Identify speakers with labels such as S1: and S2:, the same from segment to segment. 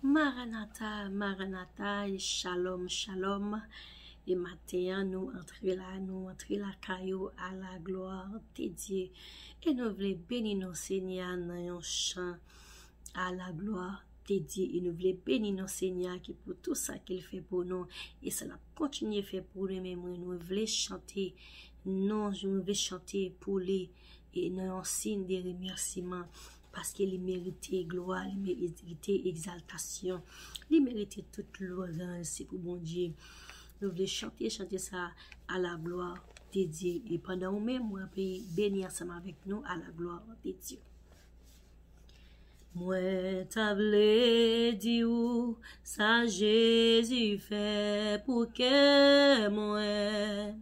S1: Maranatha Maranatha Shalom Shalom e maten an nou antre la nou antre lakay ou a la gloire de Dieu e nou vle beni non senyè a nan yon chan a la gloire de Dieu e nou vle beni non senyè a ki pou tout sa ke l fè pou nou e sa l ap kontinye fè pou nou men mwen nou vle chante non nou vle chante pou li. e nan yon siy de remèsiman, paske li merite glwa, li merite egzaltasyon, li merite tout lwanj, se pou Bondye nou vle chante chante sa a, a la glwa de Dye, e pandan ou menm ou ape beni ansanm avèk nou, a la glwa de Dye. Mwen ta vle di ou sa Jezi fè pou kè mwen.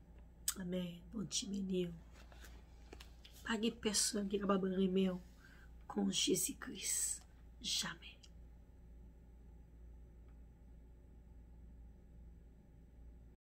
S1: Amen. Bondye beni w. Pa gen pèsòn ki kapab renmen w kon Jezi Kris. Jamè.